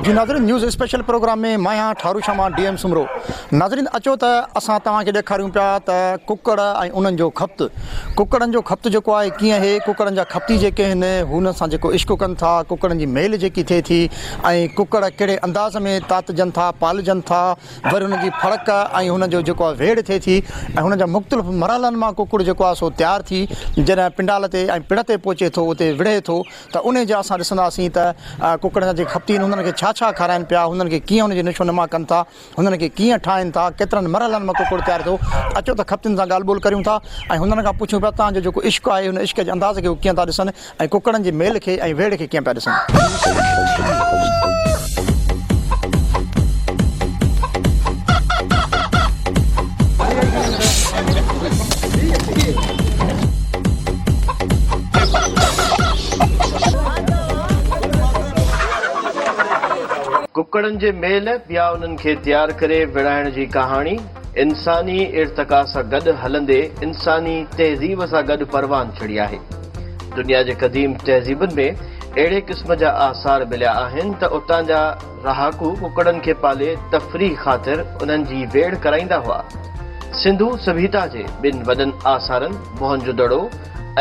جي ناظرين news special program ۾ مان آهيان ٺارو شاھ مان ڊي ايم سومرو ناظرين اچو ته اسان توهان کي ڏيکاريون پيا ته ڪڪڙ ۽ انهن جو خپت ڪڪڙن جو خپت جيڪو آهي ڪيئن اهي ڪڪڙن جا خپتي جيڪي آهن هن سان جيڪو عشق ڪن ٿا ڪڪڙن جي ميل جيڪي ٿئي ٿي ۽ ڪڪڙ ڪهڙي انداز ۾ تاتجن ٿا پالجن ٿا وري هن جي ڦڙڪ ۽ هن جو جيڪو آهي ويڙهه ٿئي ٿي ۽ هن جا مختلف مرحلن مان ڪڪڙ جيڪو آهي سو تيار ٿي جڏهن پنڊال تي ۽ پڙ تي پهچي ٿو اتي وڙهي ٿو ته انهي جا اسان ڏسنداسين ته ڪڪڙن جا جيڪي خپتين هنن کي ڇا ڇا کارائن پيا هنن کي ڪيئن هن جي نشو نما ڪن ٿا هنن کي ڪيئن ٺاهين ٿا ڪيترن مرحلن مان ڪڪڙ تيار ٿيو اچو ته خپتين سان ڳالهه ٻولهه ڪريون ٿا ۽ هنن کان پڇون پيا تان جو جيڪو عشق آهي هن عشق جي انداز کي هو ڪيئن ٿا ڏسن ۽ ڪڪڙن جي ميل کي ۽ ويڙهه کي ڪيئن پيا ڏسن. ڪڪڙن جي ميل پيا انهن کي تيار ڪري وڙهائڻ جي ڪهاڻي انساني ارتقا سان گڏ هلندي انساني تهذيب سان گڏ پروان چڙهي آهي. دنيا جي قديم تهذيبن ۾ اهڙي قسم جا آثار مليا آهن ته اتان جا رهاڪو ڪڪڙن کي پالي تفريح خاطر انهن جي ويڙهه ڪرائيندا هئا. سنڌو سڀيتا جي ٻن وڏن آثارن موهنجو دڙو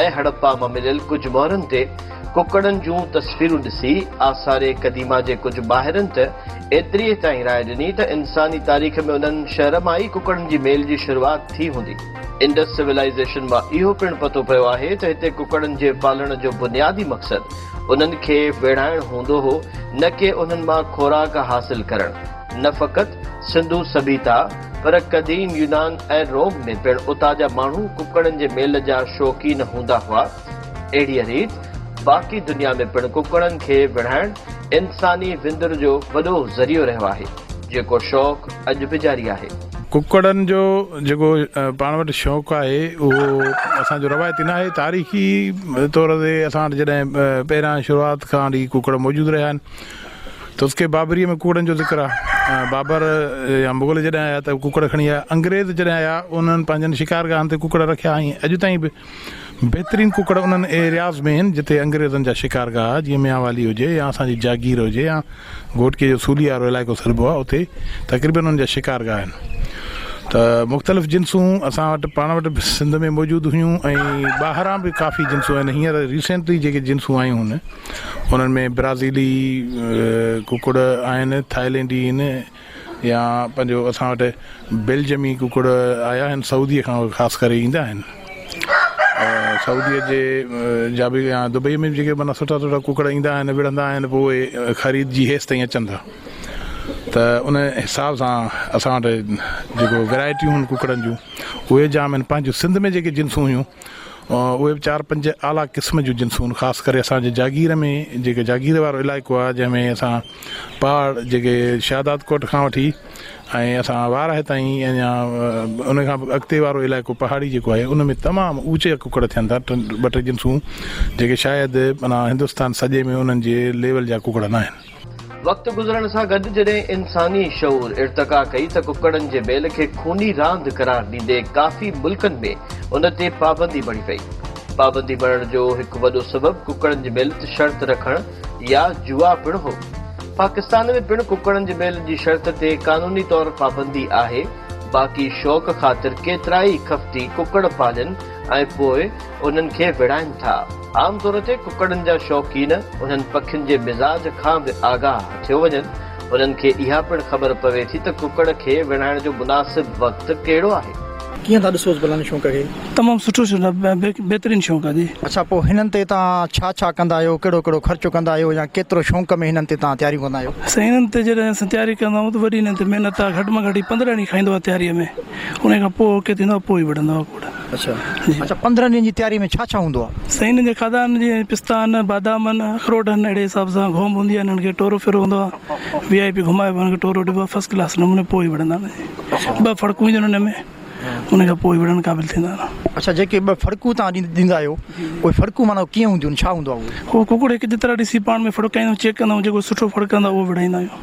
۽ هڙپا مان مليل ڪجهه مهرن تي ڪڪڙن جون تصويرون ڏسي آثار قديمه جي ڪجهه ماهرن ته ايتريء تائين راء ڏني ته انساني تاريخ ۾ انهن شهر مان ئي ڪڪڙن جي ميل جي شروعات ٿي هوندي. انڊس سولائيزيشن مان اهو پڻ پتو پيو آهي ته هتي ڪڪڙن جي پالڻ جو بنيادي مقصد انهن کي ويڙهائڻ هوندو هو نه ڪي انهن مان خوراڪ حاصل ڪرڻ. نه فقط سنڌو سڀيتا پر قديم يونان ۽ روم ۾ پڻ اتان جا ماڻهو ڪڪڙن جي ميل جا شوقين هوندا هئا. اهڙيء ريت باقي دنيا ۾ پڻ ڪڪڙن کي وڙهائڻ انساني وندر جو وڏو ذريعو رهيو آهي، جيڪو شوق اڄ به جاري آهي. ڪڪڙن جو جيڪو پاڻ وٽ شوق آهي، اهو اسان جو روايتي ناهي. تاريخي طور تي اسان وٽ جڏهن پهريان شروعات کان وٺي ڪڪڙ موجود رهيا آهن. تذڪري بابريء ۾ ڪڪڙن جو ذڪر آهي. بابر يا مغل جڏهن آيا ته ڪڪڙ کڻي آيا. انگريز جڏهن آيا، انهن پنهنجن شڪارگاهن تي ڪڪڙ رکيا ۽ اڄ تائين به. بهترين ڪڪڙ انهن ايرياز ۾ هين جتي انگريزن جا شڪارگاهه جيئن ميانوالي هجي يا اسان جي جاگير هجي يا گهوٽڪي جو سولي وارو علائقو سڏبو آهي اتي تقريبن انهن جا شڪارگاهه هين ته مختلف جنسون اسان وٽ پاڻ وٽ به سنڌ ۾ موجود هيون ۽ ٻاهران به ڪافي جنسون هين هينئر ريسينٽلي جيڪي جنسون آيون هن انهن ۾ برازيلي ڪڪڙ آهن ٿائلينڊي هين يا پنهنجو اسان وٽ بيلجمي ڪڪڙ آيا آهن سعودي کان خاص ڪري ايندا آهن سعودي جي جا به يا دبئي ۾ به جيڪي معنيٰ سٺا سٺا ڪڪڙ ايندا آهن وڙهندا آهن پوء خريد جي هيس تائين اچن ٿا ته ان حساب سان اسان وٽ جيڪو ويرائٽيون آهن ڪڪڙن جون اهي جام آهن پنهنجو سنڌ ۾ جيڪي جنسون هيون اهي به چار پنج اعليٰ قسم جون جنسون خاص ڪري اسان جي جاگير ۾ جيڪي جاگير وارو علائقو آهي جنهن ۾ اسان پهاڙ جيڪي شهداد ڪوٽ کان وٺي ۽ اسان وارهه تائين اڃا ان کان به اڳتي وارو علائقو پهاڙي جيڪو آهي ان ۾ تمام اوچا ڪڪڙ ٿين ٿا ٽن ٻه ٽي جنسون جيڪي شايد معنيٰ هندستان سڄي ۾ انهن جي ليول جا ڪڪڙ ناهن وقت گذرڻ سان گڏ جڏهن انساني شعور ارتقا ڪئي ته ڪڪڙن جي بيل کي خوني راند قرار ڏيندي ڪافي ملڪن ۾ ان تي پابندي بڻي وئي. پابندي بڻڻ جو هڪ وڏو سبب ڪڪڙن جي بيل تي شرط رکڻ يا جوا پڻ هو. پاڪستان ۾ پڻ ڪڪڙن جي بيل جي شرط تي قانوني طور پابندي آهي باقي شوق خاطر ڪيترائي خفتي ڪڪڙ پالين ۽ پوء انهن کي وڙهائين ٿا. عام طور تي ڪڪڙن جا شوقين انهن پکين جي مزاج کان به آگاهه ٿيو وڃن. انهن کي اها پڻ خبر پوي ٿي ته ڪڪڙ کي ويڙهائڻ جو مناسب وقت ڪهڙو آهي. ڪيئن ٿا ڏسوس ڀلا ان شونق کي. تمام سٺو بهترين شونق آ جي. اڇا پوء هنن تي توهان ڇا ڇا ڪندا آهيو ڪهڙو ڪهڙو خرچ ڪندا آهيو يا ڪيترو شونق ۾ هنن تي توهان تياريون ڪندا آهيو. سائين هنن تي جڏهن اسين تياري ڪندا آهيون ته وڏي هنن تي محنت آ گهٽ مان گهٽ هي پندرهن ڏينهن کائيندو آ تياريء ۾ انهي کان پوء اوڪي ٿيندو آ پوء هي وڙهندو آ ڪوڙ. اڇا پندرهن ڏينهن جي تياري ۾ ڇا ڇا هوندو آهي؟ سائين هنن جي کاڌا آهن جيئن پستا آهن بادام آهن اخروٽ آهن اهڙي حساب سان گهوم هوندي آهي هنن کي ٽورو ڦيرو هوندو آهي وي آء پي گهمائبو آهي هنن کي ٽورو ڏبو آهي فسٽ ڪلاس نموني پوء وڙهندا آهن جي ٻه ڦڙڪون اينديون آهن هن ۾ ان کان پوء وڙهڻ قابل ٿيندا آهن. اڇا جيڪي ٻه ڦڙڪون تهان ڏيندا آهيو اهي ڦڙڪون معنيٰ ڪيئن هونديون آهن ڇا هوندو آهي اهو؟ اهو ڪڪڙ هڪ جيترا ڏسي پاڻ ۾ ڦڙڪائيندو آهيون چيڪ ڪندا آهيون جيڪو سٺو ڦڙڪندو آهي اهو وڙهائيندا آهيون.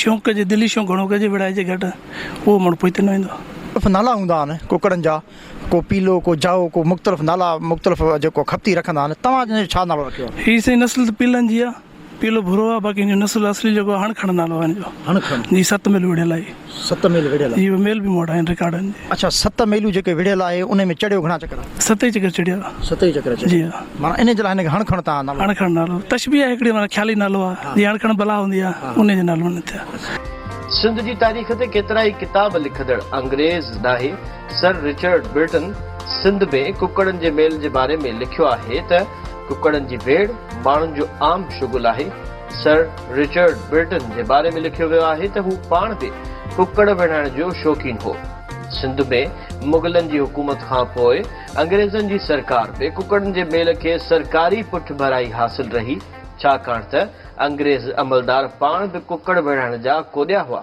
شونق ڪجي دلي شونق گهڻو ڪجي ويڙهائجي گهٽ اهو مڙ پوئتي نه ويندو. مختلف نالا هوندا آهن ڪڪڙن جا ڪو پيلو ڪو جائو ڪو مختلف نالا مختلف جيڪو کپتي رکندا آهن توهان جو ڇا نالو رکيو آهي. هي سائين نسل ته پيلن جي آهي پيلو ڀورو آهي باقي هنجو نسل اصلي جيڪو هڻ کڻ نالو آهي هنجو هڻ کڻ جي ست ميلو وڙهيل آهي هي ست ميل وڙهيل آهي جي ميل به مون وٽ آهن رڪارڊن جي اڇا ست ميلو جيڪي وڙهيل آهي انهي ۾ چڙهيو گهڻا چڪر ست ئي چڪر چڙهيا ست ئي چڪر چڙهيا جي ها. معنيٰ انهيء جي لاء هن کي هڻ کڻ تان نالو. هڻ کڻ نالو تشبيهه آهي هڪڙي معنيٰ خيالي نالو آهي جيئن هڻ کڻ بلا هوندي آهي انهيء جي نالو هن ٿيا. سنڌ جي تاريخ تي ڪيترائي ڪتاب لکندڙ انگريز ڏاهي سر رچرڊ برٽن سنڌ ۾ ڪڪڙن جي ميل جي باري ۾ لکيو آهي ته ڪڪڙن جي ويڙهه ماڻهن جو عام شغل آهي سر رچرڊ برٽن جي باري ۾ لکيو ويو آهي ته هو پاڻ به ڪڪڙ ويڙهائڻ جو شوقين هو سنڌ ۾ مغلن جي حڪومت کان پوء انگريزن جي سرڪار به ڪڪڙن جي ميل کي سرڪاري پٺڀرائي حاصل رهي، ڇاڪاڻ ته انگريز عملدار پاڻ به ڪڪڙ وڙهڻ جا ڪوڏيا هئا.